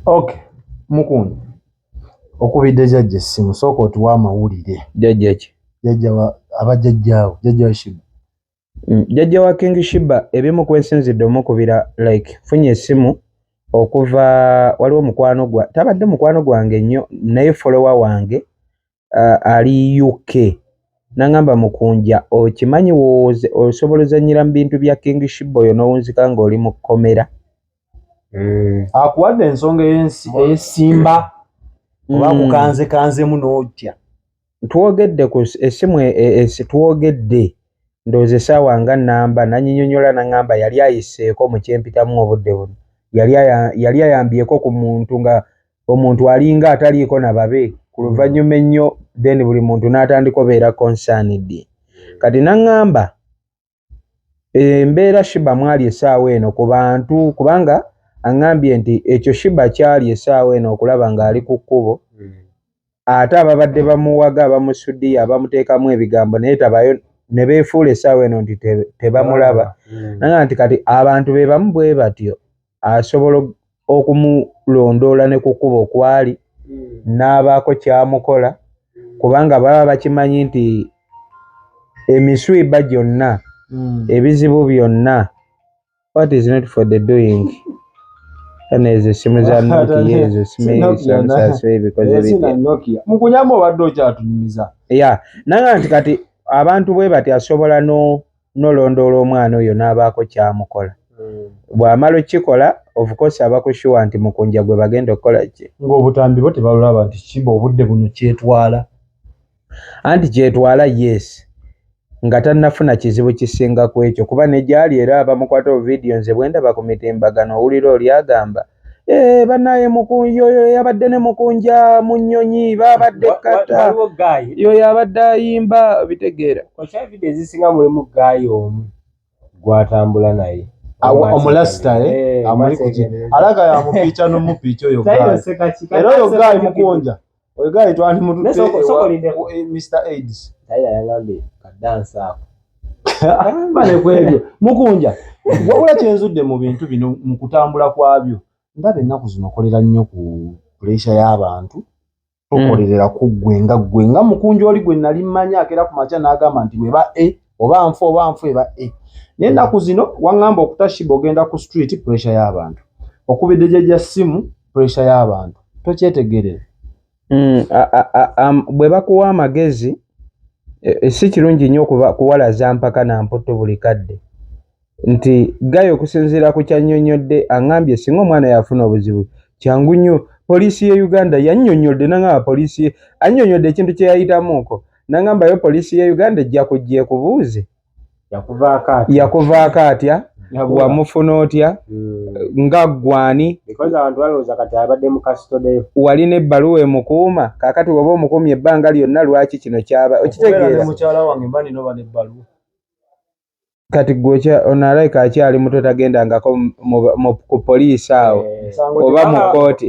ok mukunja okubidde jajja essimu sooka otuwa amawulire jajja ki jajja aba jajjaawo jajja shiba mm, jajja wa king shiba ebimu kwensinzidde omukubira like funye essimu okuva waliwo mukwano gwa tabadde mukwano gwange nnyo naye folowa wange uh, ali uk nangamba mukunja okimanyi wowoze osobola ozanyira mu bintu bya king shiba oyo nowunzika ngaoli mu kkomera mm. akuwadde ensonga eyesimba mm. oba kukanze kanzemu notya twogedde ku esimu e, e, esi twogedde ndooza esaawa nga namba nanyinyonyola nangamba yali ayiseeko mukyempitamu obudde buno yali ayambyeko ku muntu nga omuntu alinga ataliiko na babe ku luvannyuma ennyo then buli muntu n'atandika obeera concerned kati naŋŋamba embeera shiba mwali essaawa eno ku bantu kubanga aŋŋambye nti ekyo shiba kyali essaawa eno okulaba ng'ali ku kkubo ate ababadde bamuwaga abamusudiya abamuteekamu ebigambo naye tabayo ne beefuula essaawa eno nti tebamulaba mm. naga nti kati abantu be bamu bwe batyo asobola okumulondoola ne ku kkubo kwali mm. n'abaako kyamukola kubanga baba bakimanyi nti emiswiba gyonna mm. ebizibu byonna what is not for the doing kana ezo essimu za noki ezo simuebikozebitnokia mukunyamba obadde okyatunyumiza ya nanga nti kati abantu bwe bati asobola no nolondoola omwana oyo n'abaako kyamukola hmm. bw'amala okukikola ofukosi abakushuwa nti mukunja gwe bagenda okukola ki ng'obutambi bo tebalulaba nti kiba obudde buno kyetwala anti kyetwala yes nga tannafuna kizibu kisinga ku ekyo kuba ne gyali era abamukwata ovidiyo nze bwe ndaba ku mitimbagano owulira oli agamba eh, banaye yoyo yabadde ne mukunja mu nnyonyi babadde kata yoyo abadde ayimba bitegeera ezisinga mulimu gaayi omu gwatambula naye omulasita eh? eh, amuli ku alaga yamupiica nomupiica oyo era oyo gaayi mukunja Oyo guy twali mututte Naye soko- soko ewa- lindeko. eh, Mr. Aids. Taira yangambye kadansi ako. Bale kwebyo. Mukunja. Wabula kyenzudde mu bintu bino mu kutambula kwabyo. Ndaba ennaku zino okolera nnyo ku puleesha y'abantu. Tokolerera ku ggwe nga ggwe nga mukunja oli gwe nali mmanyi akeera ku makya n'agamba nti bweba e oba nfa oba nfa eba e. Naye ennaku zino waŋŋamba okutashiba ogenda ku street puleesha y'abantu. Okubidde gyegya ssimu puresha y'abantu tokyetegerera mm, bwe bakuwa amagezi e, e, si kirungi nnyo kuwalaza mpaka na mputtu buli kadde nti gayo okusinziira ku kyannyonnyodde aŋambye singa omwana yafuna obuzibu kyangu nnyo poliisi ye uganda yannyonnyodde naŋamba poliisi ye annyonnyodde ekintu kye yayitamuuko naŋambayo poliisi ye uganda ejja kujja ekubuuze yakuvaako atya wamufuna otya hmm. nga ggwani walina ebbaluwa emukuuma kakati waba omukuumye ebbanga lyonna lwaki kino kyaba okitegeera kati gwe onalabika akyali muto tagendangako ku poliisi awo eh, oba mu kkooti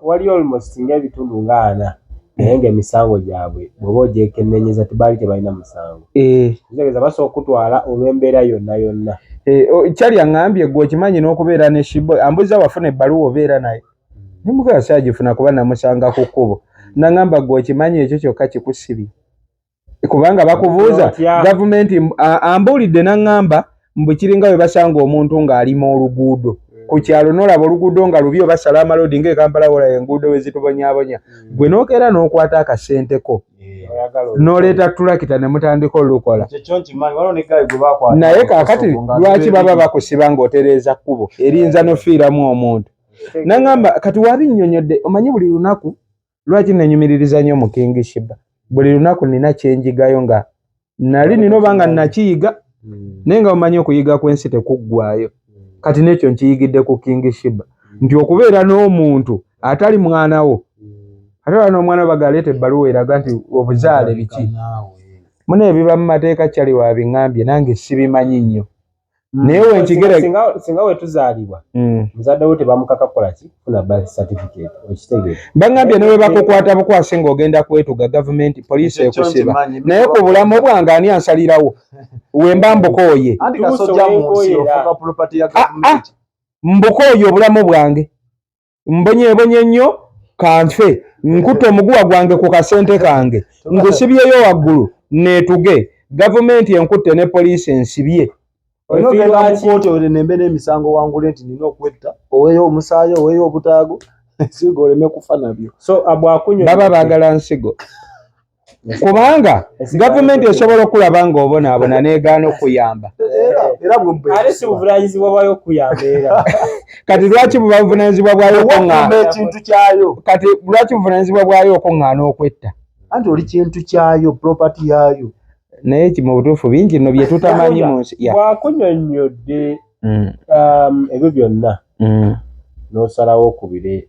waliyo almost nga ebitundu nga ana naye nga emisango gyabwe bwoba ogyekenenyeza tibaali tebalina musango eh. kitegeeza basobola okutwala olw'embeera yonna yonna eh, kyali aŋambye gwe okimanyi n'okubeera ne shibo ambuza wafuna ebbaluwa obeera naye hmm. nemugala saagifuna kuba namusanga ku kkubo naŋamba gwe okimanyi ekyo kyokka kikusibye kubanga bakubuuza gavumenti ambuulidde naŋŋamba mbu kiringa we basanga omuntu ng'alima oluguudo hmm. ku kyalo n'olaba oluguudo nga lubi oba salamalodi nga ekampala wola enguudo we zitubonyabonya hmm. gwe n'okeera n'okwata akasente ko n'oleeta tulakita ne mutandika olukola naye kaakati lwaki baba bakusiba ng'otereeza kkubo erinza n'ofiiramu omuntu naŋŋamba kati wabi nnyonyodde omanyi buli lunaku lwaki nenyumiririza nnyo mu king shiba buli lunaku nina kyenjigayo nga nali nina oba nga nakiyiga hmm. naye nga omanyi okuyiga kwensi tekuggwayo hmm. kati nekyo nkiyigidde ku king shiba hmm. nti okubeera n'omuntu atali mwana wo ate oba n'omwana wo bagaleeta ebbaluwa eraga nti obuzaale biki muna ebiba mu mateeka kyali wabiŋambye nange sibimanyi nnyo Mm. naye wenkigera singa wetuzaalibwa mm. muzadde wo tebamukaka kukola ki funa birth certificate okitegere bangambye ne webakukwata bukwasi ng'ogenda kwetuga gavumenti poliisi ekusiba naye ku bulamu bwange ani ansalirawo wemba mbukooye ah, ah. mbukooye obulamu bwange mbonyebonye nnyo kanfe nkute omuguwa gwange ku kasente kange ngusibyeyo waggulu neetuge gavumenti enkutte ne poliisi ensibye onoogenda mu kooti olembe n'emisango wangule nti nina okwetta oweeyo omusaayi oweeyo obutaago ensigo oleme kufa nabyo so bwakubaba baagala nsigo kubanga gavumenti esobola okulaba nga obonaabona negaana okuyamba kati lwaki bubavunanyizibwa bwayo ekintu kyayo kati lwaki buvunanyizibwa bwayo okuŋŋaana okwetta anti oli kintu kyayo propati yaayo naye ki mu butuufu bingi no bye tutamanyi mu nsi wakunyonnyodde mm. um, ebyo byonna mm. n'osalawo okubire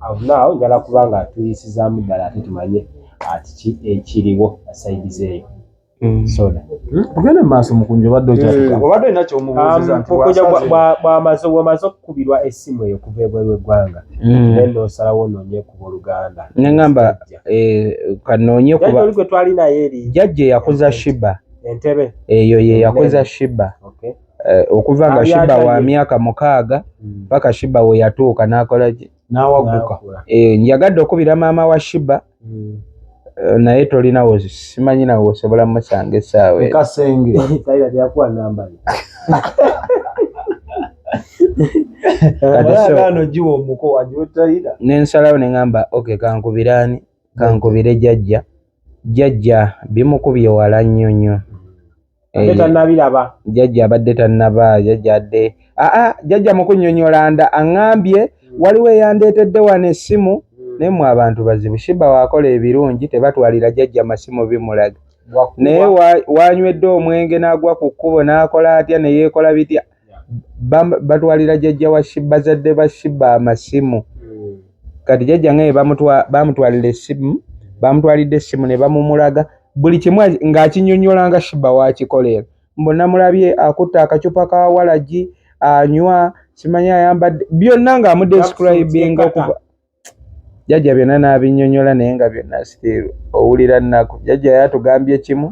Avnaawo njala kuba nga tuyisizaamu ddala ate tumanye atiki ah, ekiriwo asaidizeeyo mm. soda hmm? ogende mumaaso mukunja obadde okyobadde olina kyomubuuzizabwamaze um, wamaze okukubirwa essimu eyo kuva ebweru eggwanga hmm. naye nosalawo onoonye kuba oluganda neŋamba eh, kanoonye kubaoli gwe twali naye eri jajja eyakuza shiba entebe eyo yeyakuza shiba Eh, okuva nga shiba wa myaka mukaaga hmm. paka shiba we yatuuka nakola ki nawaguka eh, njagadde okubira maama wa shiba hmm. eh, naye tolinawo simanyi nawe osobola musanga esaawa kasenge nensalawo neŋamba ok kankubiraani kankubire jajja jajja bimukubye wala nnyo nnyo Eh, jajja abadde tannaba jajja adde aa ah, ah, jajja mukunyonyola nda aŋambye hmm. waliwo eyandeetedde wano essimu hmm. naye mwe abantu bazibu shiba waakola ebirungi tebatwalira jajja masimu bimulaga naye wanywedde omwenge n'agwa ku kkubo n'akola atya ne yeekola bitya batwalira jajja wa bazadde ba shiba amasimu kati jajja ngaye bamutwalira esimu bamutwalidde esimu ne bamumulaga buli kimu ng'akinyonyola nga shiba wakikolera mbu namulabye akutte akacupa ka walagi anywa simanyi ayambadde byonna ng'amudescribinga okuva jajja byonna n'abinyonyola naye nga byonna still owulira nnaku jajja yatugambye kimu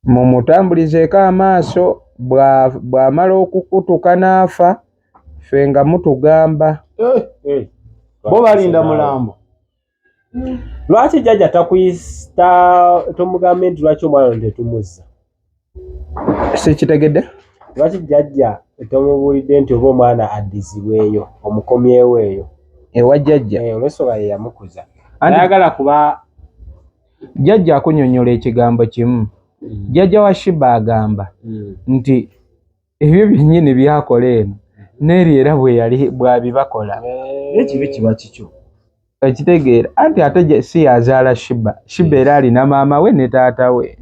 mumutambulizeeko amaaso bwamala okukutuka n'afa ffe nga mutugamba eh, eh. bo balinda mulambo lwaki jajja takuyista tomugambe nti lwaki omwana ntetumuzza sikitegedde lwaki jajja tomubuulidde nti oba omwana addizibweyo omukomyewo eyo ewa jajja eh, olwensonga yeyamukuza ayagala kuba Jjajja akunyonyola ekigambo kimu. Jjajja wa Shiba agamba nti ebyo byennyini byakola eno n'eri era bwe yali bwabibakola. Ekibi kiba kikyo. Okitegeera anti ate si yazaala Shiba. Shiba era alina maama we ne taata we.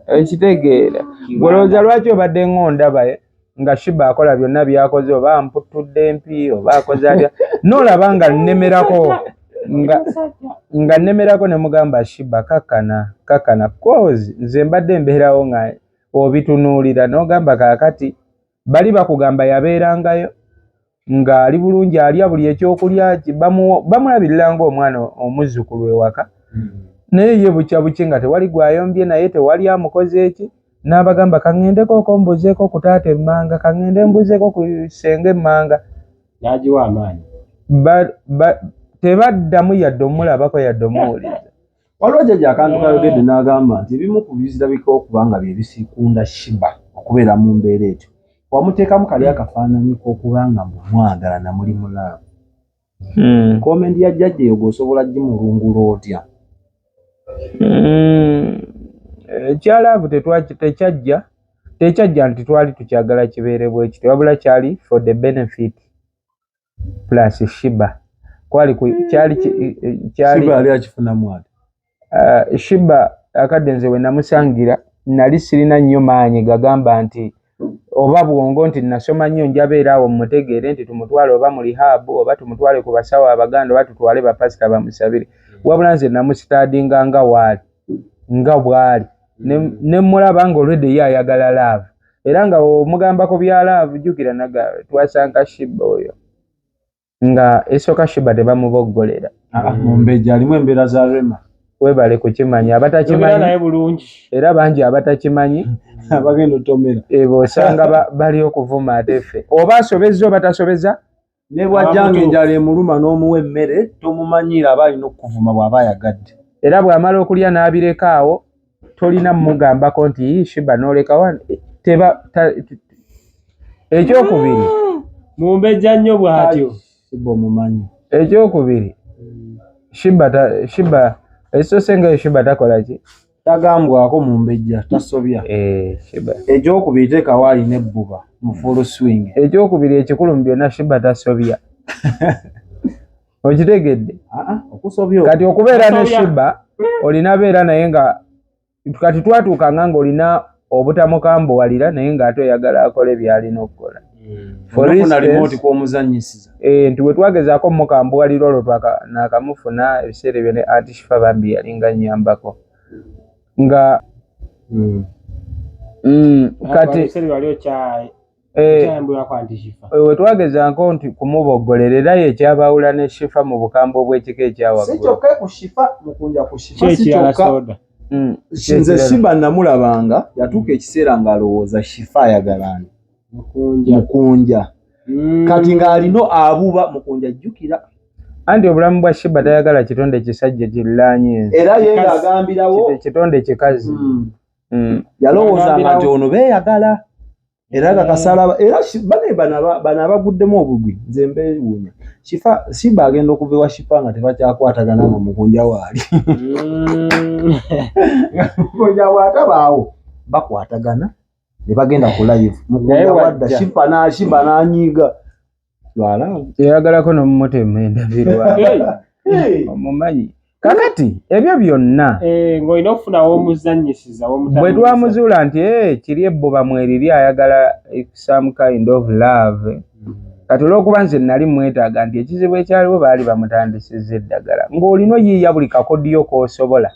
Okitegeera. Olowooza lwaki obadde ng'ondaba? Eh? nga shiba akola byonna byakoze oba amputtudde mpi oba akoze atya nolaba nga nnemerako nga nnemerako ne mugamba shiba kakkana kakkana coz nze mbadde mbeerawo nga obitunuulira nogamba kaakati bali bakugamba yabeerangayo ng'ali bulungi alya buli ekyokulya bamulabirira ng'omwana omuzzukulu ewaka hmm. naye ye bukya buki nga tewali gwayombye naye tewali amukoze eki n'abagamba kaŋŋendeko oko mbuzeeko ku taata emmanga kaŋŋende mbuzeeko ku senga emmanga n'agiwa amaanyi tebaddamu yadde omulabako yadde omuwuliriza waliwo jjaja akantu kayogedde n'agamba nti ebimu ku bizirabika okuba nga bye bisikunda shiba okubeera mu mbeera etyo wamuteekamu kali akafaananyi k'okuba nga mumwagala na muli mulaamu hmm. komendi ya jjajja eyo gweosobola gimulungula otya hmm. ekyalaavu tekyajja tekyajja nti twali tukyagala kibeerebwa ekityo wabula kyali for the benefit plus shiba kwali kyali kyaliakifunamu eh, shiba akadde nze we namusangira nali sirina nnyo maanyi gagamba nti oba bwongo nti nasoma nnyo njabeera awo mutegeere nti tumutwale oba mu lihaabu oba tumutwale ku basawo abaganda oba tutwale bapasita bamusabire wabula nze namusitaadinga nga waali nga bwali ne mmulaba nga olwedde ye ayagala laavu era nga omugambako bya laavu jjukira naga twasanka shiba oyo nga esooka shiba tebamuboggolera ah, mumbejja alimu embeera za rema webale kukimanya abatakimanyi bulungi era bangi abatakimanyi abagenda otomera ebo osanga bali okuvuma ate ffe oba asobezza oba tasobeza ne bw'ajjanga enjala emuluma n'omuwa emmere tomumanyiira aba alina okukuvuma bw'aba ayagadde era bw'amala okulya n'abireka awo tolina mumugambako nti shiba n'olekawa teba ekyokubiri mumbejja nnyo bw'atyo shiba omumanyi ekyokubiri shiba shiba ekisoose ngayo shiba takola ki Tagambwako mumbejja tasobya. Eh, Sheba. Ekyokubiri tekawo alina ebbuba mu full swing. Ekyokubiri ekikulu mu byonna Sheba tasobya. Okitegedde? Ah, ah, okusobya. Kati okubeera ne Sheba olina beera naye nga kati twatuuka nga ng'olina obutamukambuwalira naye ng'ate oyagala akole byalina okukola eh, nti wetwagezaako omukambuwalira olwo nakamufuna ebiseera ebyo ne antishifa bambi yalinga nyambako nga hmm. Hmm, kati Eh, eh, wetwagezanko nti kumubogolera era ye kyabaawula ne shifa mu bukambwe obw'ekika ekyawaggulukyekyalasoda mm, nze siba namulabanga yatuuka ekiseera ng'alowooza shifa ayagalani mukunja mm. kati ng'alina abuba mukunja jjukira anti obulamu bwa shiba tayagala kitonde kisajja kirlaanyi era ye ng'agambirawo kitonde kikazi mm. mm. yalowooza nga gyono beeyagala era nga kasala era bane bano abaguddemu obugwi nze mbeewuunya shifa simba agenda okuva ewa shifa nga tebakyakwatagana nga mukunja waali mm. mukunja bwatabaawo bakwatagana ne bagenda ku live mukunja wadda shifa nashiba nanyiiga yayagalako nomumutemu endabirwa omumanyi kakati ebyo byonna eh, ngaolina okufunawo omuzanyisiza bwe twamuzuula nti eh, kiri ebbuba mweriri ayagala some kind of love hmm. kati olwokuba nze nali mwetaaga nti ekizibu ekyaliwo baali bamutandisiza eddagala ng'olina oyiiya buli kakodiyo k'osobola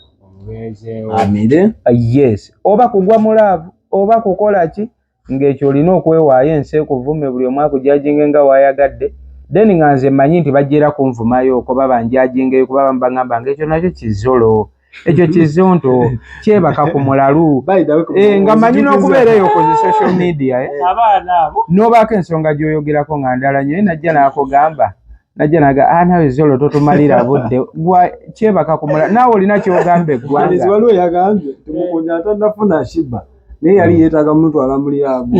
amire ah, yes oba kugwa mu laavu oba kukola ki ng'ekyo olina okwewaayo ensi ekuvume buli omu akujajinge nga waayagadde then nga nze mmanyi nti bajja era kunvumayo okoba banjajingeyo kuba bamu baŋamba nga ekyo nakyo kizolo ekyo kizonto kyebaka ku mulalu eh, nga mmanyi n'okubeera eyo ku zi social media eh. n'obaako ensonga gy'oyogerako nga ndala nyo ye najja n'akugamba najja naga ah, nawe zolo totumalira budde gwa kyebaka ku mulalu naawe olina kyogamba eggwanga naye yali hmm. yeetaaga mutwala mu lyabu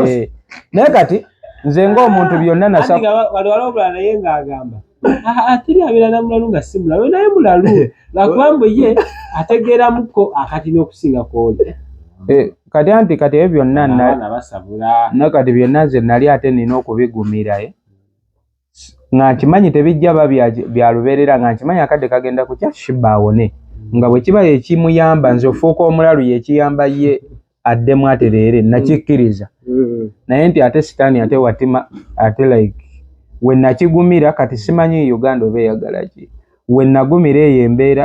eh, naye kati nze ng'omuntu byonna nasawaliwalobula naye ng'agamba ateri abeera na mulalu nga si mulalu naye mulalu lwakuba mbu ye ategeeramuko akati n'okusinga kwoli eh, kati anti kati ebyo byonna nakati byonna nze nali ate nina okubigumira eh. nga nkimanyi tebijja ba bya lubeerera nga nkimanyi akadde kagenda kukya shiba awone nga bwe kiba ekimuyamba nze ofuuka omulalu yekiyamba ye addemu atereere nakikkiriza mm. naye nti ate sitaani ate watima ate like we nakigumira kati simanyi uganda oba eyagalaki we nagumira eyo embeera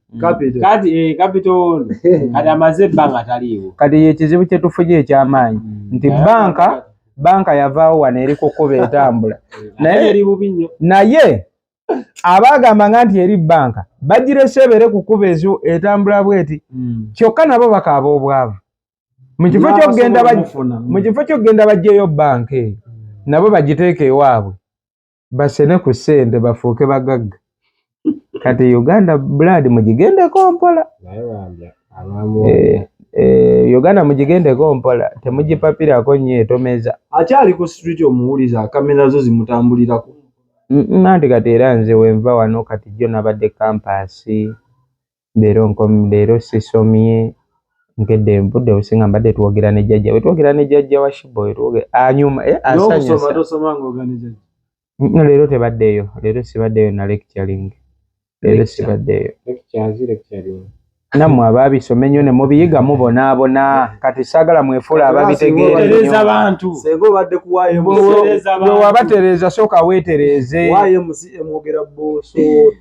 Eh, kati ekizibu kyetufunye ekyamaanyi mm. nti banka banka yavaawo wano eri kukuba etambula naye abaagamba nga nti eri banka bagirese ebeere kukuba ezo etambula bweti mm. kyokka nabo bakaaba obwavu mu kifo kyokugenda bajjeyo banka eyo nabo bagiteeka ewaabwe basene ku sente bafuuke bagagga kati uganda blood mugigendeko mpola Eh, Uganda mugigendeko mpola temugipapirako nnyo etomeza akyali ku street omuwuliza kamera zo zimutambulirako nanti kati era nze wenva wano kati jjo nabadde kampaasi leero nkom leero sisomye nkedde nvudde obusinga mbadde twogera ne jajja we twogera ne jajja wa shibo we twogera anyuma ah, e, eh, asanyusa no leero tebaddeeyo leero sibaddeeyo na lecturing leero sibaddeeyo nammwe abaabisoma ennyo ne mubiyiga mubonaabona kati saagala mwefuula ababitegeerewabatereeza sooka weetereeze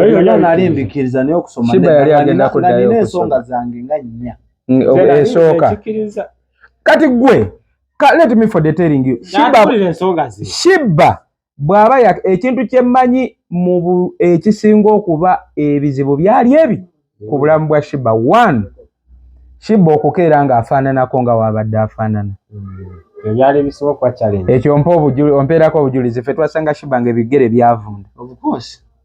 era nali mbikkiriza naye okusoma nalina ensonga zange nga nnya esooka kati gwe let me for detailing you shibba bw'aba ekintu kyemmanyi mu ekisinga okuba ebizibu byali ebi ku bulamu bwa shiba one shiba okukeera nga afaananako nga waabadde afaanana hmm. ekyo mpa obujuli ompeerako obujulizi fe twasanga shiba nga ebigere byavunda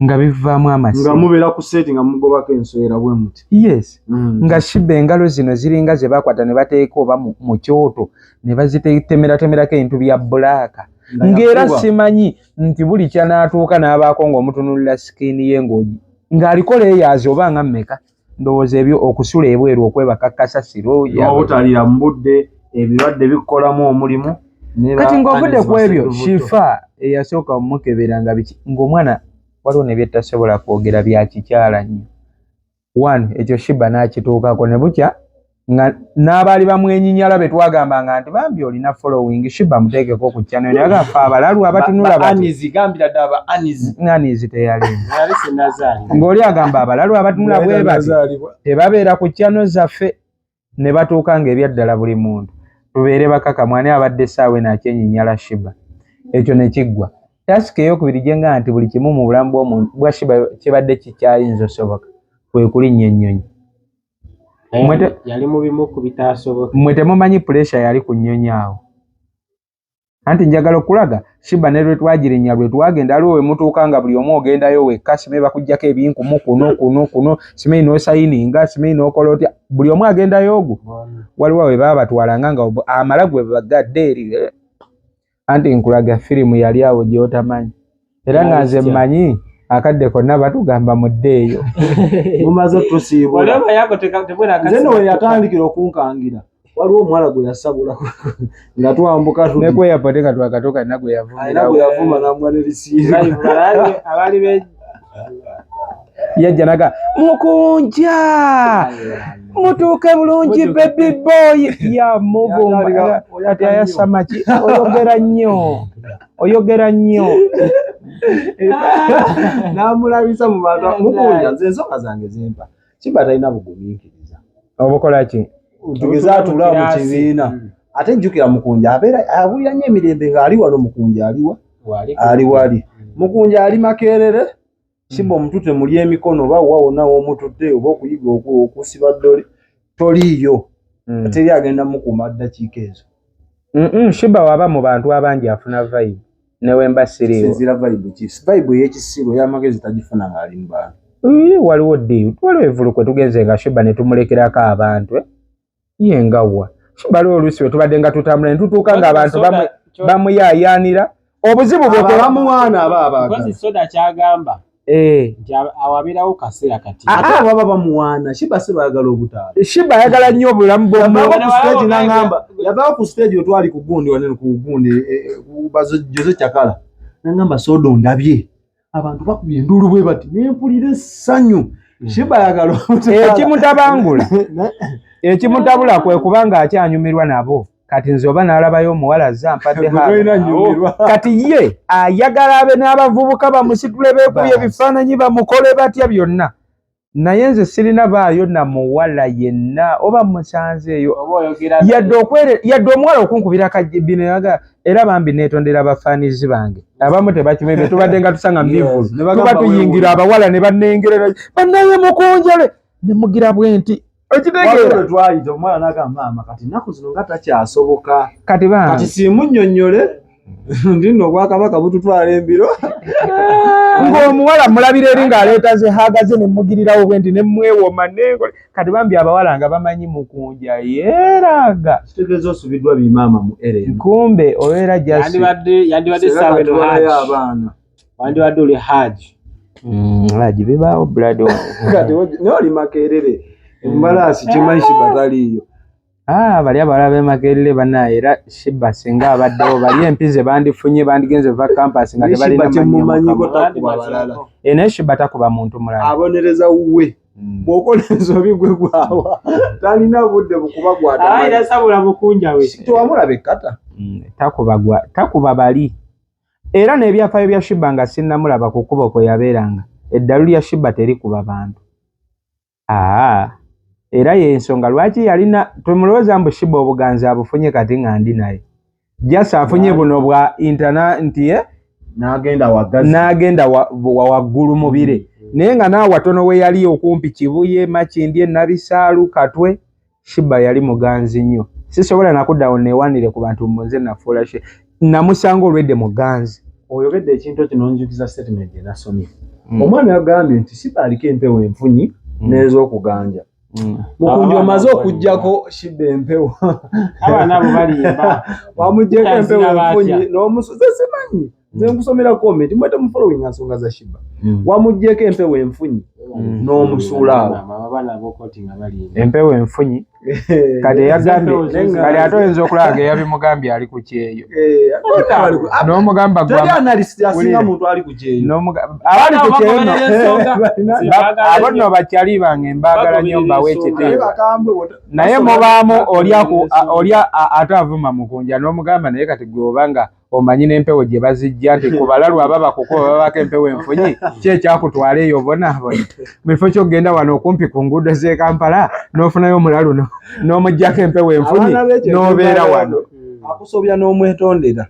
nga bivaamu amasimubeera ku seeti nga mugobako enswera bwe muti yes hmm. nga shiba engalo zino ziringa ze bakwata ne bateeka oba mu kyoto ne bazitetemeratemerako ebintu bya bulaaka ng'era simanyi nti buli kyanaatuuka n'abaako ng'omutunulira sikiini ye ng'ogi ng'aliko leeyaazi oba nga mmeka ndowooza ebyo okusula ebweru okwebaka kasasiro obutalira mu budde ebirwadde bikukolamu omulimu kati ng'ovudde ku ebyo shifa eyasooka omukebera nga biki ng'omwana waliwo ne byettasobola kwogera byakikyala nnyo one ekyo shiba n'akituukako ne bukya nga n'abaali bamwenyinyala be twagambanga nti bambi olina following shiba muteekeko ku channel naye agafa abalalu abatunula banizi gambira ddala ba anizi anizi teyali ng'oli agamba abalalu abatunula bwe bati tebabeera ku channel zaffe ne batuuka ng'ebyaddala buli muntu tubeere bakaka mwani abadde essaawa eno akyenyinyala shiba ekyo ne kiggwa tasika eyokubiri gye nga nti buli kimu mu bulamu bw'omuntu bwa shiba kibadde kikyayinza osoboka kwe kulinnya ennyonyi yali mu bimu ku bitaasoboka. Mmwe temumanyi puleesha yali ku nnyonyi awo. Anti njagala okulaga Shiba ne lwe twagirinnya lwe twagenda aliwo we mutuuka nga buli omu ogendayo wekka Simeyi bakuggyako ebinkumu kuno kuno kuno Simeyi n'osayininga Simeyi n'okola otya buli omu agendayo ogwo waliwo we baabatwalanga nga amala gwe bagadde eri eh. anti nkulaga firimu yali awo gyotamanyi era nga nze mmanyi akadde konna batugamba mudde eyo mumaze tusiibulaweyatandikira okunkangira waliwo omuwala gwe yasabula nga twambuka nekweyapote nga twakatoka nagwe yavuma nagwe yavuma namwanelisiiabaali yajja naga mukunja mutuuke bulungi baby boy yamuvumba ati ayasamaki oyogera nnyo oyogera nnyo namulabisa mu bantu mukunja nze ensonga zange zimpa kiba talina bugumiikiriza obukola ki tugeze atula mu kibiina hmm. ate jjukira mukunja abeera abulira nyo emirembe ng'ali wano mukunja aliwa ali wali hmm. mukunja ali makerere simba hmm. omutute muli emikono oba wa wonna womutute oba okuyiga okusiba ddole toliiyo teri agenda mukuuma ddakiika ezo shiba waba mu bantu abangi afuna vibe newemba siriwo vibe yekisiru eyamagezi tagifuna ngaali mubantu waliwo di waliwo evulu kwe tugenze nga shuba netumulekerako abantu eh? ye ngawa shuba lwo olusi wetubadde nga tutambula netutuuka nga abantu bamuyayanira obuzibu bwebamuwaana aba abaga Eh. nti awo abeerawo kaseera kati ah, ate ah. baba bamuwaana shiba si baagala obutaala shiba ayagala nnyo obulamu bwomnagamba yavaawo ku stage wetwali ku gundi wanene ku gundi eh, eh, jose cakala nangamba soda ondabye abantu bakubye enduulu bwe bati nempulira essanyu hmm. shiba ayagala ekimutabangula ekimutabula kwe kubanga akyanyumirwa nabo kati nze oba nalabayo omuwala azze ampadde oh. kati ye ayagala abe n'abavubuka bamusitule beekubye ebifaananyi bamukole batya byonna naye nze sirina baayo na muwala yenna oba musanze eyo yadde omuwala okunkubira kajibino yaga era bambi neetondera bafaanizi bange abamu tebakimanyi betubadde nga tusanga mivulu tuba tuyingira abawala ne banengerera banaye mukunjale ne mugira bwe nti ekitegeera twayita omwana nagamba maama kati ennaku zino nga takyasoboka kati ba kati siimunnyonnyole ndino obwakabaka bututwala embiro ng'omuwala mulabira eri ng'aleeta zehaaga ze nemugirirawo bwe nti nemwewoma nenkole kati bambi abawala nga bamanyi mukunja yeeraga kitegeeza osubiddwa bimaama mu ere kumbe obeera jasibadde yandibadde saawa abaana wandibadde oli haji mm, haji bibaawo buladi kati naye oli makerere mm. embalaasi kimanyi shiba taliiyo ah, bali abawala bemakerere banaye era shiba singa abaddewo bali empize bandifunye bandigenze va campus nga tebalinaye shiba takuba muntu mulala abonereza wuwe Mm. bwokola ensobi gwe gwawa talina budde bukuba gwatasabola bukunjawe tewamulaba ekkata mm, takuba bali era n'ebyafaayo bya shiba nga sinnamulaba ku kkubo kwe yabeeranga eddalu lya shiba terikuba bantu aa era y'ensonga lwaki yalina temulowooza mbu shiba obuganzi abufunye kati nga ndi naye jasi afunye buno bwa intana nti ye n'agenda waggulu mubire mm. naye nga naawe watono we yali okumpi kibuye makindye nabisaalu katwe shiba yali muganzi nnyo sisobola nakudawo newanire ku bantu mbu nze nafuula she namusanga olwedde muganzi oyogedde ekintu ekyo nonjukiza statement gye nasomye mm. omwana yagambye nti shiba aliko empewo enfunyi mm. n'ezokuganja mm. mukundi omaze okugjako shiba empewo wamujeko empewo enfunyi n'omusuze simanyi nze mm. nkusomera comment mwete mu following nsonga za shiba mm. wamujjeko empewo enfunyi mm. n'omusuula awo empewo enfunyi kati eyagambye kati ate oyinza okulaba nga eyabimugambye ali ku kyeyo eh, n'omugamba gwabali ku kyeyo abo nno bakyali bange mbaagala nyo mbawo ekiteewa naye mubaamu oli ate avuma mukunja n'omugamba naye kati gwe oba nga omanyi n'empewo gye bazijja nti ku balalu aba bakukuba babaako empewo enfunyi ki ekyakutwala eyo obonaabona mu kifo ky'okugenda wano okumpi ku nguudo z'e kampala n'ofunayo omulalu n'omugyako empewo enfunyi n'obeera wano akusobya n'omwetondera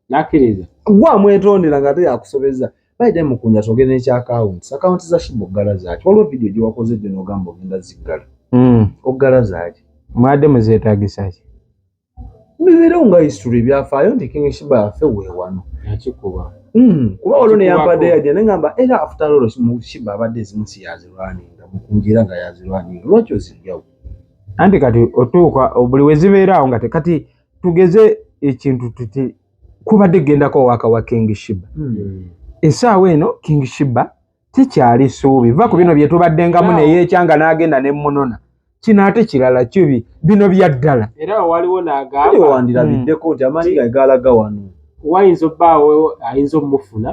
nakkiriza gwe amwetondera nga te yakusobeza bayide mukunya togenda ekya akawunti akawunti za shiba oggala zaaki waliwo vidiyo gye wakoze gyo n'ogamba ogenda ziggala hmm. oggala zaaki mwade muzeetagisaki bibeerewo nga history ebyafaayo nti king shiba yafe weewano yakikuba hmm, kuba waliwo neyampadde yajja nengamba era after all shiba abadde ezimu si yazirwaninga mukunjira nga yazirwaninga lwaki oziryawo anti kati otuuka buli wezibeeraawo nga tekati tugeze ekintu tuti kubadde gendako owaka wa king shiba hmm. esaawa eno king shiba sikyali suubi va ku bino byetubaddengamu neyekyanga nagenda nemunona kino ate kirala kibi bino byaddala era waliwo nagawandilabiddeko nti amaanyi gae galaga wano wayinza obbaawo ayinza omufuna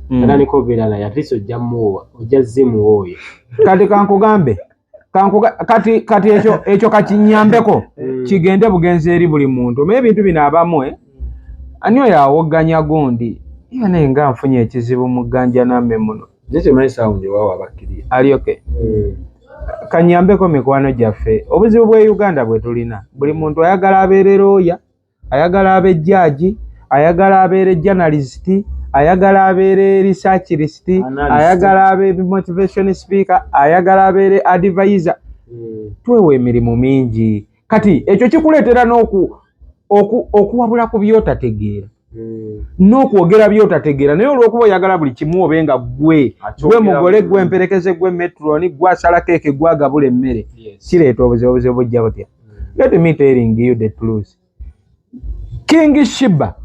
hmm. atandika obeera naye atleast ojja muwa ojja zimuwa oyo kati kankugambe kankuga kati kati ekyo ekyo kakinyambeko mm. kigende bugenzi eri buli muntu omaye ebintu bino abamu eh? ani oyo awogganya gundi iwe naye nga nfunye ekizibu mu gganja name muno alioke mm. kanyambeko mikwano gyaffe obuzibu bwe uganda bwe tulina buli muntu ayagala abeerera oya ayagala abe jjaaji, ayagala abeere journalist, ayagala abeere research list, ayagala abe motivation speaker, ayagala abeere advisor. Hmm. Twewa emirimu mingi. Kati ekyo kikuleetera n'oku okuwabula ku byotategeera hmm. n'okwogera byotategeera naye olwokuba oyagala buli kimu obe nga gwe gwe mugole gwe mperekeze gwe metroni gwe asala keeke gwe agabula emmere kireeta obuzibu obuzibu bujja butya let me telling you the truth king shiba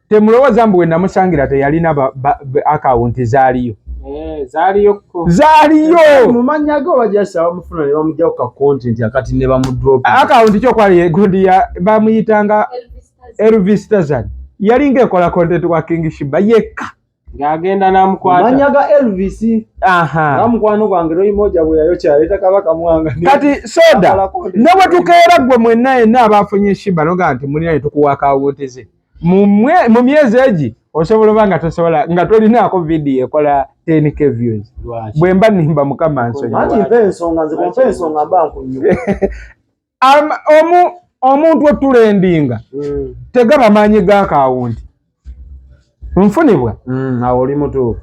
temulowooza mbu wenamusangira teyalina akawunti zaaliyo eh, zaaliyo akawunti kyokwali egundi ya bamuyitanga elvis tazan yalinga ekola kontenti wa king shiba yekka ng'agenda n'amukwata mannya ga elvis nga mukwano gwange loyimoja bwe yayokya yaleeta kabaka mwanga kati soda ne bwe tukeera ggwe mwenna yenna abaafunye shiba noga nti mulina ne tukuwa akawuutize mu myezi egi osobola oba nga tosobola nga tolinaako vidiyo ekola tenk views bwe mba nimba mukama nsonyi omu omuntu otulendinga mm. tegaba maanyi ga kaawunti nfunibwa mm, awo oli mutuufu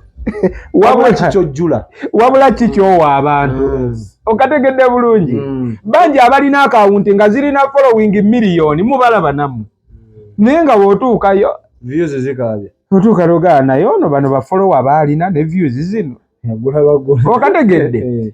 wabula kikyojjula wabula kikyowa abantu mm. okategedde bulungi mm. bangi abalina akawunti nga zirina following miliyoni mubalaba namu mm. naye nga wotuukayo views zikabya otuuka logaa naye ono bano bafolowa baalina ne views zino okategedde eh.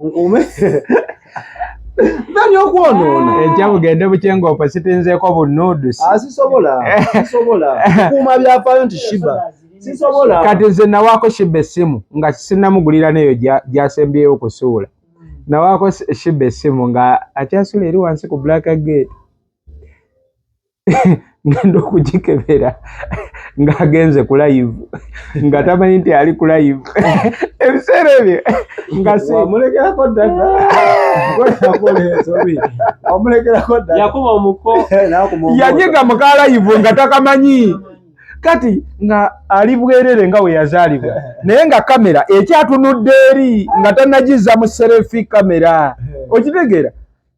nkuume nani okwonoona ah. enkya bugende bukyenga opo sitinzeeko bunnuudusi ah, sisobola sisobola kuuma byafaayo nti shiba sisobola kati nze nawaako shiba essimu nga sinamugulira neyo gyasembyeyo okusuula nawaako shiba essimu nga akyasula eri wansi ku black gate ngenda okugikebera ng'agenze ku live nga tamanyi nti ali ku live ebiseera ebyo ngawamulekerako ddayakubaomukoyanyiga muka live nga takamanyi kati nga ali bwerere nga we yazaalibwa naye nga kamera ekyatunudde eri nga tanagizza mu serefi kamera okitegeera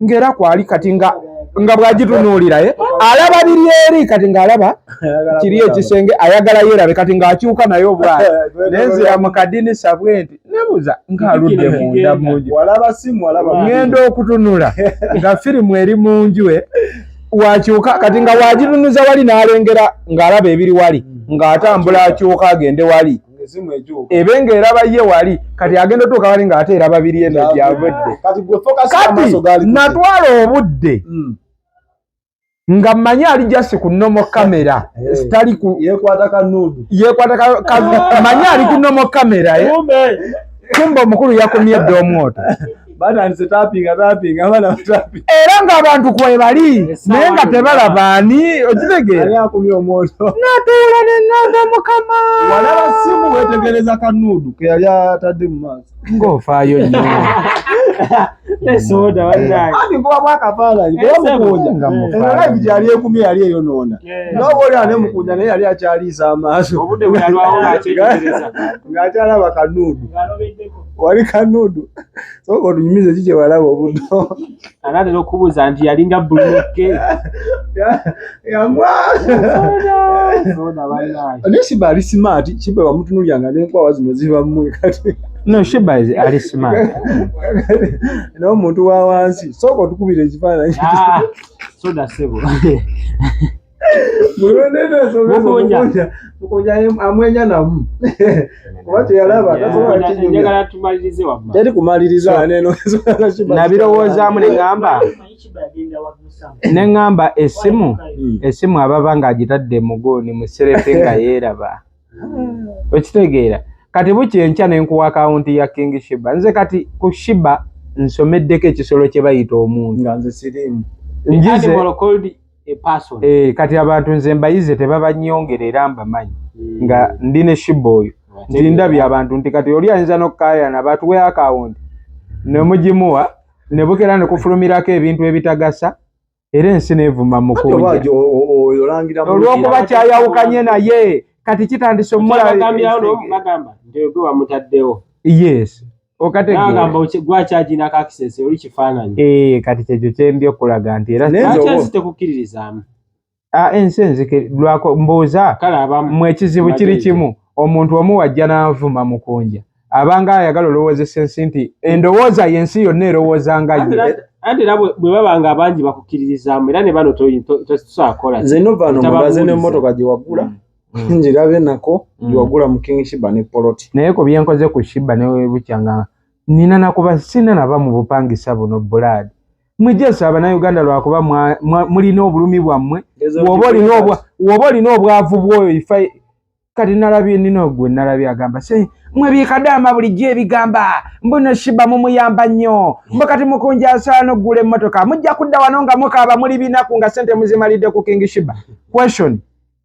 ngera kwali kati nga nga bwagitunuulira ye eh? alaba biri eri kati ng'alaba kiri ekisenge ayagala yeerabe kati ng'akyuka naye obwana nenzira mu kadinisa bwe nti nebuza ng'aludde munda munju ŋŋenda okutunula nga firimu eri mu nju e wakyuka kati nga wagitunuza wali n'alengera ng'alaba ebiri wali ng'atambula akyuka agende wali ebe nga eraba ye wali kati agenda otuuka wali nga ate eraba biri eno gyavudde kati natwala obudde hmm. nga mmanyi ali jasi ku nomo kamera eh. sitali yekwata mmanyi ali ku nomo kamera eh. kumba omukulu yakumye dda omwoto batandise tapinga tapinga abana batapi era nga abantu kwebali naye nga tebalaba ani okitegeera akumye omwoto natuula ne ngamba mukama walaba simu wetegereza kanuudu ke yali atadde mu maaso ng'ofaayo nnyo esoda wanaye kuba bwakafaananyi kuba mukunja era live gyali ekumye yali eyonoona noba oli ane mukunja naye yali akyaliisa amaaso ng'akyalaba kanuudu wali kanudu soka otunyumize ki kyewalaba obuto anatera okubuuza nti yalinga buluke naye shiba ali smart shiba wamutunulyanga nenkwawa zino zibamu kati no shiba ali smart naye omuntu wa wansi soka otukubira ekifaananyi ah, soda sebo amwenya namu teri kumalirizaanabirowoozamu neamba neŋamba esimu hmm. esimu ababa ng'agitadde muguuni muserefe nga yeeraba ah. okitegeera kati bukya enkya nenkuwa akawunti ya king shiba nze kati ku shiba nsomeddeko ekisolo kye bayita omuntu njize eh, kati abantu nze mbayize tebabanyongera era mbamanyi hmm. nga ndi ne shiba oyo nti ndabye abantu nti kati oli ayinza nokukayana batuwe akawunti nemugimuwa nebukera nekufulumirako ebintu ebitagasa era ensi nevuma mukunjaolwokuba kyayawukanye naye kati kitandise omulaagamba nti ogwe wamutaddewo yes okategamba gwakyagina kakisese oli kifaananyi eh, kati kyekyo kyendi okulaga nti era tekukiririzaamu ah, ensi enzike lwako mbuuza mwe ekizibu kiri kimu omuntu omu wajja n'avuma mukunja abanga ayagala olowoozesa ensi nti endowooza yensi yonna erowooza nga ye anti era bwe baba nga abangi bakukkiririzaamu era ne bano tosobola kukola nze nova no mubaze n'emmotoka gye wagula mm. Hmm. njirabe nako mm. wagula mukingi shiba ne poloti naye ko byenkoze ku shiba ne bukyanga nina nakuba sina naba mu bupangisa buno bulad mujesa abana uganda lwakuba muli no bulumi bwamwe wobo li no bwa wobo li no bwavu bwoyo ifa kati nalabi nino gwe nalabi agamba se mwe bikadama buli je bigamba mbona shiba mu muyamba nyo mbakati mukunja sano gule motoka mujja kudawa nonga mukaba muli binaku nga sente muzimalide ku kingi shiba question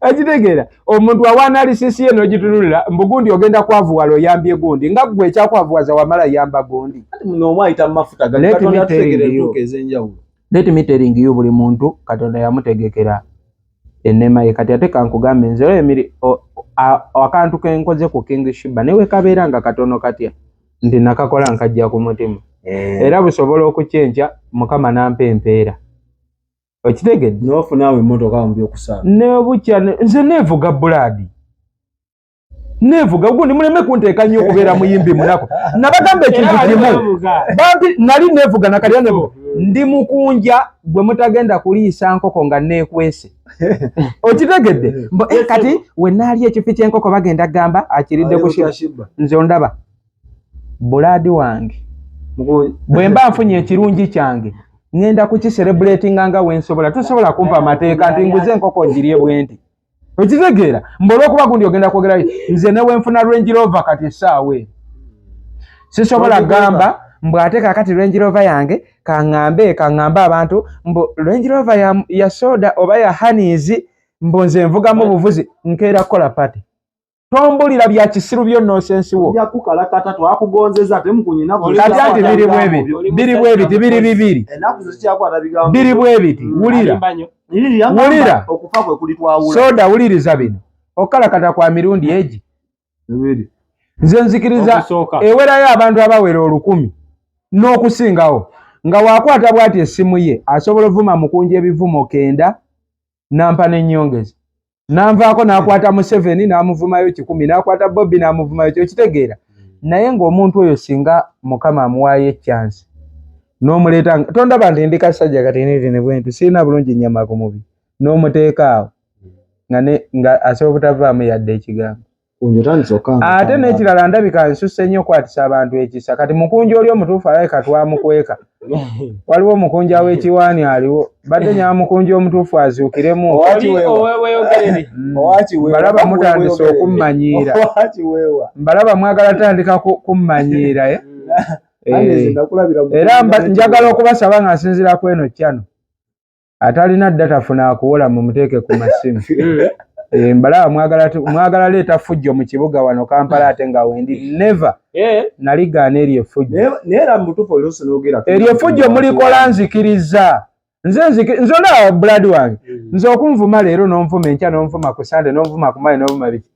akitegeera omuntu awa analysis ye nogitunulira mbu gundi ogenda kwavuwala oyambye gundi nga gwe ekyakwavuwaza wamala yamba gundi let me telling you buli muntu katonda yamutegekera enema ye kati ate kankugambe nze oyo emiri akantu kenkoze ku king shiba newe kabeera nga katono katya nti nakakola nkajja ku mutima eh. era busobola okukyenkya mukama nampa empeera okitegedde nofuna awo emotoka wambi okusala nebukya nze nevuga buladi nevuga gundi muleme kunteeka nnyo okubeera muyimbi munaku nabagamba ekintu kimu bambi nali nevuga nakalya nevuga ndi mukunja gwe mutagenda kuliisa nkoko nga nekwese okitegedde eh, kati wenaali ekifi kyenkoko bagenda gamba akiridde kushi nze ondaba bulaadi wange bwe mba nfunye ekirungi kyange ŋŋenda kukiserebuleetinga nga we nsobola tosobola kumpa amateeka nti nguze enkoko ngirye bwenti okitegeera mba olwokuba gundi ogenda kwogera nze ne wenfuna lwenjirova kati essaawa e sisobola kugamba mbu ate kakati lwenjirova yange kaŋŋambe kaŋŋambe abantu mbu lwenjirova ya soda oba ya haniizi mbu nze nvugamu buvuzi nkeera kukola pati tombulira bya kisiru byo nonsense wo ya kukala kata to akugonzeza te mkunyi na buli kati ati biri bwebi biri bwebi ti biri bibiri enaku zo kya kwa tabiga biri bwebi ti wulira wulira okufa kwe kuli twa wula soda wulira zabino okala kata kwa mirundi eji bibiri nze nzikiriza ewera ya abantu abawera olukumi n'okusingawo nga wakwata bwati esimu ye asobola ovuma mukunja ebivumo kenda nampa nenyongeza nanvaako nakwata museveni namuvumayo kikumi nakwata bobi namuvumayo kyokitegeera hmm. naye ngaomuntu oyo singa mukama amuwaayo ekyansi nomuleeta tondaba nti ndi kasajja katinitiinibwenti sirina bulungi nyama ku mubi nomuteekaawo hmm. nga asobola obutavaamu yadde ekigambo ate nekirala ndabika nsuse nnyo okwatisa abantu ekisa kati mukunja oli omutuufu alabika twamukweka waliwo omukunja w'ekiwaani aliwo badde nyamukunja omutuufu azuukiremu mbalaba mm. mutandise okummanyiira mbalaba mwagala tandika kummanyiira eh? Eh. era njagala okubasaba nga nsinzira ku eno kyano atalina data funa akuwola mumuteeke ku masimu eh, mbalaba mwagala leeta fujjo mu kibuga wano kampala ate nga wendi neve eh. naligaana eryo efujjoeryo efujjo mulikola nzikiriza nze nze olaba buladi wange mm. nze okunvuma leero nonvuma enkya nonvuma ku sande nonvuma kumale nonvuma biki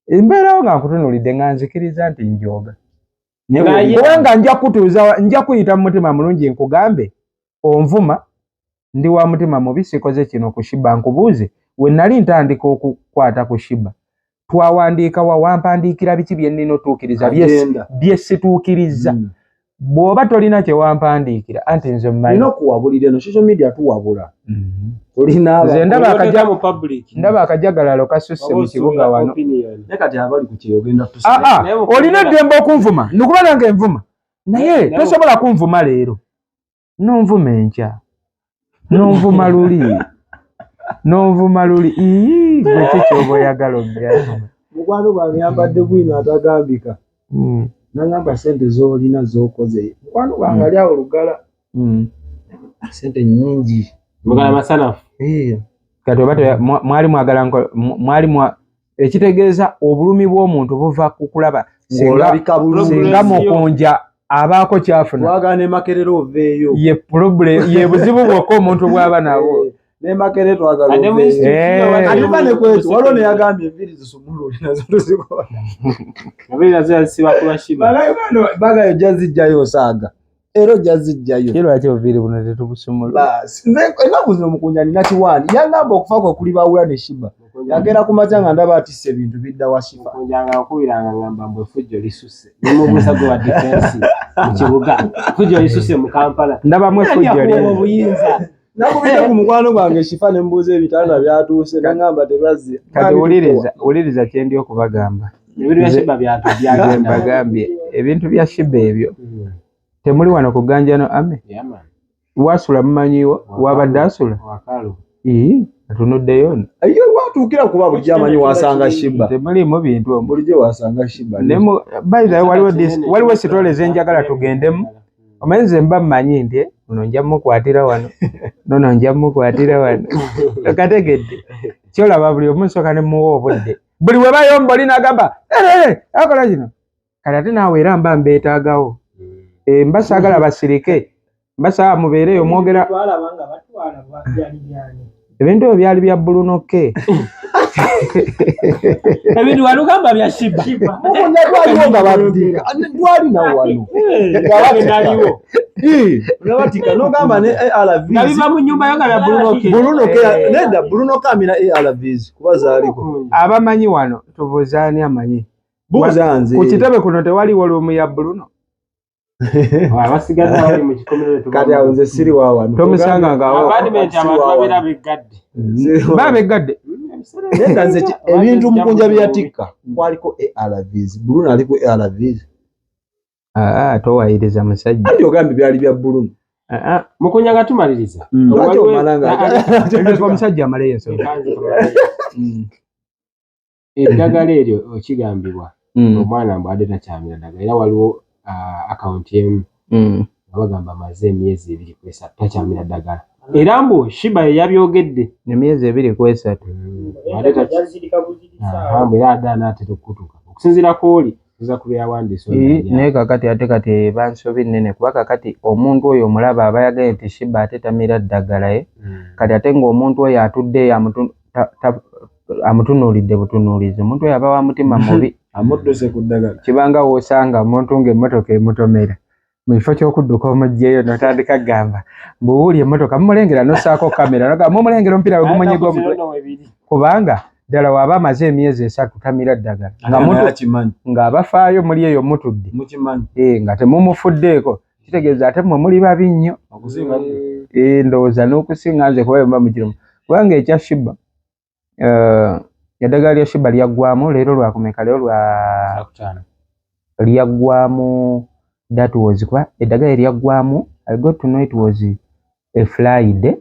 embeerawo nga nkutunulidde nga nzikiriza nti njoga kubanga nja kutuuza nja kuyita mu mutima mulungi nkugambe onvuma ndi wa mutima mubi sikoze kino ku shiba nkubuuze we nali ntandika okukwata ku shiba twawandiika wa wampandiikira biki bye nnina otuukiriza bye situukiriza hmm. bw'oba tolina kye wampandiikira anti nze mmanyi nokuwabulira eno social media tuwabula nze ndaba akajagalalo kasusse mu kibuga wano ah, ah, olina eddembe okunvuma ndikuba nange envuma naye tosobola kunvuma leero nonvuma enkya nonvuma luli nonvuma luli ekikyoba oyagala obyavuma mukwano gwange yambadde bwino atagambika hmm. nangamba sente zolina zokoze mukwano gwange hmm. ali awo lugala mm. ah, sente nyingi mugala mm. masanafu eh. kati oba mwali mwagala mwali mwa ekitegeeza obulumi bw'omuntu buva ku kulaba singa mukunja abaako kyafunayebuzibu bwokka omuntu bwaba nabwo bagala ojja zijjayo osaaga era ojja zijjayo kye lwaki obuviiri buno tetubusumula baasi nze ennaku zino mukunja nina kiwaani yangamba okufa kwe kuli bawula ne shiba yagenda ku makya nga ndaba atisse ebintu bidda wa shiba mukunja nga nkubira nga ngamba mbu efujjo lisusse nemubuusa gwe wa difensi mu kibuga efujjo lisusse mu kampala ndabamu efujjo obuyinza nakubidde ku mukwano gwange shifa ne mbuuza ebitanda byatuuse nangamba tebazze kati wuliriza wuliriza kye ndi okubagamba mbagambye ebintu bya shiba ebyo hmm. temuli wano ku ganjano ame wasula mumanyiwo wabadde asula atunuddeyo ye watuukira kuba bulijjo amanyi wasanga shiba temuliimu bintu bulijjo wasanga shiba naye bayizayo waliwo sitole zenjagala tugendemu omanyi nze mba mmanyi nti ono nja mukwatira wano nono nja mukwatira wano okategedde kyolaba buli omu nsooka ne muwa obudde buli we bayomba oli nagamba akola kino kale ate naawe era mba mbeetaagawo eh, mba saagala basirike mba saa mubeereyo mwogera ebintu ebyo byali bya buluno ke ebintu walugamba bya shiba mukunya twaliwo nga babdira twali nawe wano naliwo nabatika nogamba ne arv nabiva mu nyumba yo nga bya buluno ke buluno ke eh. neda buluno ke amina arvs kuba zaliko abamanyi wano tubuzaani amanyi buuza nze ku kitebe kuno tewaliwo lumu ya buluno abasigadde abali mu kikomero kati awo nze siri wawano tomusanga ngaababeera beggadde baa beggadde nega nze ebintu mukunja byeyatikka kwaliko arvs buluna ali ku arvs ah, ah, towayiriza musajja andi ogambye byali bya buluna ah, mukunya nga tumaliriza mm. omusajja amaleyo eddagala eryo okigambibwa mm. omwana mbu ade takyamira ddagala era waliwo uh, akawunti emu mm. nga bagamba amaze emyezi ebiri ku esatu takyamira ddagala era mbu shiba yeyabyogedde emyezi ebiri ku esatu mm. era ade anaatera okukutuka okusinzira ku oli oza kubyawandiisa eh, naye kakati ate kati bansobi nnene kuba kakati omuntu oyo omulaba aba yagaye nti shiba ate tamira ddagala ye eh? hmm. kati ate ngaomuntu oyo atudde yamutu amutunuulidde butunuulizi omuntu oyo aba wa mutima mubi amudduse ku ddagala kibanga wosanga omuntu ng'emmotoka emutomera mu kifo ky'okudduka omugyeyo notandika kugamba mbuwuuli emmotoka mumulengera nosaako kamera nogamba mumulengera omupiira we gumunyiga omutwe kubanga ddala waaba amaze emyezi esatu tamira ddagala ng'abafaayo muli eyo mutudde eh, nga temumufuddeeko kitegeeza ate mwe muli babi nnyo eh, ndowooza n'okusinga nze kuba yomba mukirimu kubanga ekya shiba uh, eddagala lya shuba lyaggwamu leero lwakumeka leero lwa lyaggwamu that was kuba eddagala eryaggwamu i got to know it was a friday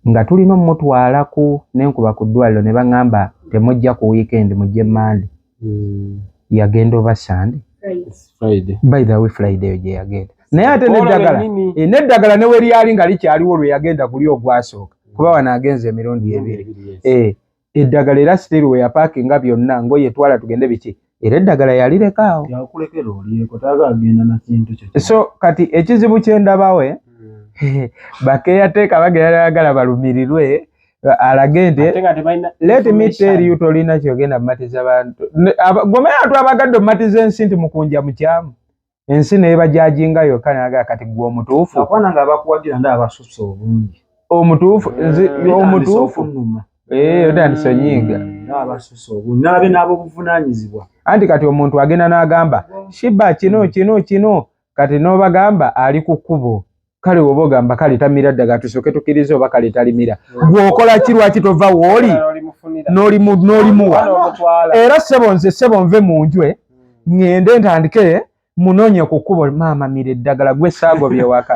nga tulina omutwalaku nenkuba ku ddwaliro ne baŋŋamba temujja ku weekend mujje mande hmm. yagenda oba sande by the way friday eyo gye yagenda naye ate neddagala eh, neddagala ne weryali nga likyaliwo lwe yagenda guli ogwasooka kuba wano agenza emirundi ebiri eh, eddagala era siteri we yapakinga byonna ngoye twala tugende biki era eddagala yalireka awo so kati ekizibu kyendabawe hmm. bakeyateeka bagera yagala balumirirwe alage nti let me tell you tolina kyogenda mumatiza bantu gomera atu abagadde omumatiza ensi nti mukunja mukyamu ensi naye bajajinga yokka naga kati gwe omutuufu omutuufu eh, omutuufu eh, otandisa onyiiga anti kati omuntu agenda n'agamba shiba kino kino kino kati n'obagamba ali ku kkubo kale woba ogamba kale tamira ddagala tusooke tukiriza oba kale talimira gweokola ki lwaki tova wooli n'olimuwa era ssebo nze ssebo nve mu njwe ŋŋende ntandike munonye ku kkubo maama mira eddagala gwe saago byewaka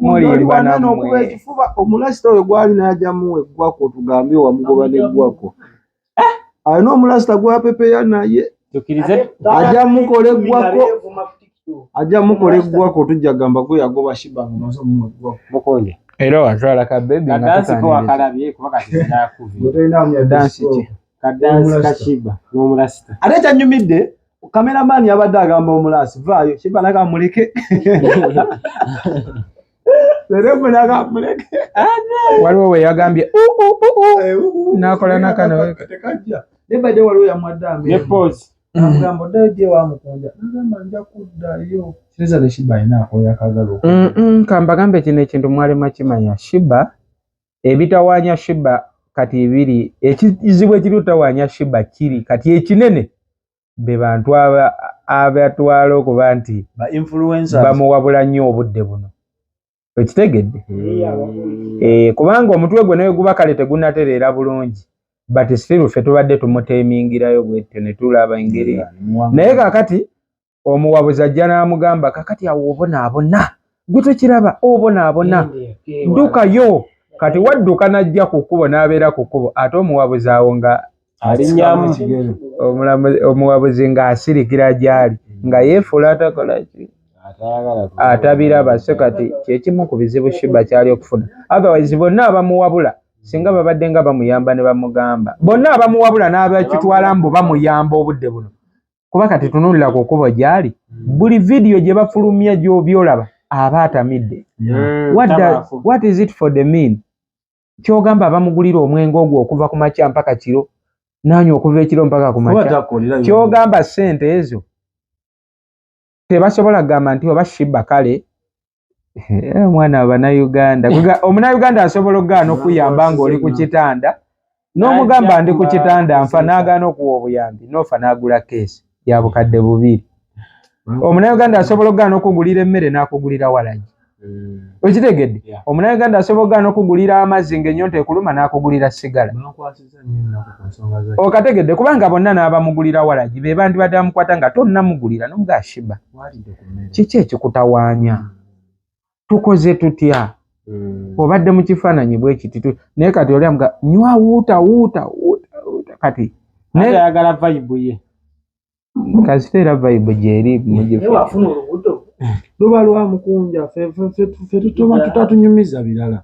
mulimbanamwe omulasita oyo gwali najamu eggwako tugambe wamugoba neggwako eh, alina omulasita gwapepeya naye ajja mukola eggwako ajja mukola eggwako tujja gamba gwe yagoba shiba nga maze omumu eggwako mukonde era watwala ka bebi ate ekyanyumidde kameramani yabadde agamba omulasi vaayo shiba naga muleke waliwo weyagambye nakola nakano nebadde waliwo yamwaddaamugamba oddayo gye wamukunja nagamba nja kuddayo kireza ne shiba alina akoyakagala kambagambe kino ekintu mwalema kimanya shiba ebitawanya shiba kati ebiri ekizibu ekiri otawanya shiba kiri kati ekinene be bantu abatwala okuba nti bamuwabula nnyo obudde buno ekitegedde hmm. eh, kubanga omutwe gwe naye guba kale tegunatereera bulungi but still ffe tubadde tumuteemingirayo bwetyo ne tulaba engeri naye kakati omuwabuzi ajja n'amugamba kakati awo obonaabona gwe tokiraba obonaabona ddukayo kati wadduka n'ajja ku kkubo n'abeera ku kkubo ate omuwabuzi awo nga alinnyamu omuwabuzi ng'asirikira gy'ali nga yeefuula atakola ki atabiraba so kati kyekimu ku bizibu shiba kyali okufuna otherwise bonna abamuwabula singa babadde nga bamuyamba ne bamugamba bonna abamuwabula n'abakitwala mbu bamuyamba obudde buno kuba kati tunulira ku kkubo gy'ali buli vidiyo gye bafulumya gy'obyolaba aba atamidde mm, what is it for the mean kyogamba abamugulira omwenge ogwo okuva ku makya mpaka kiro nanywa okuva ekiro mpaka ku makya kyogamba sente ezo tebasobola kugamba nti oba shiba kale eh, omwana wabanauganda omunauganda asobola okugaana okuyamba ngaoli ku kitanda n'omugamba ndi ku kitanda nfa nagaana okuwa obuyambi nofa nagula keesi ya bukadde bubiri mm. omunauganda asobola okugaana okugulira emmere n'akugulira walagi mm. okitegedde omunauganda asobola okugaana okugulira amazzi ng'enyonta ekuluma n'akugulira sigala okategedde kubanga bonna n'abamugulira walagi be bandibadde bamukwata nga tonnamugulira nomugashiba kiki ekikutawaanya mm. tukoze tutya mm. obadde mu kifaananyi bwekiti naye kati oli amuga nywa wuuta wuuta wuuta kati ayagala vayibu ye kasita era vayibu gyeri mugifuna olubuto luba lwamukunja fe tutoba tutatunyumiza birala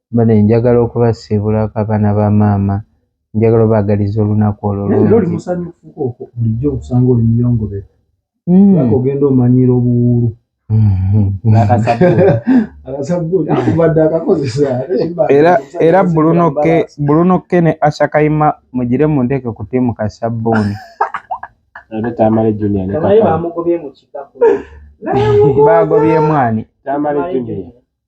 Bane njagala okubasiibulako abaana ba maama njagala obaagaliza olunaku olwo luli musanyufuko okwo bulijjo okusanga oli muyongobefu hmm. lwaka ogenda omanyiira obuwuulu era bulunokke ne ashakaima mugire mu nteeke ku tiimu ka sabbuuni baagobye emwani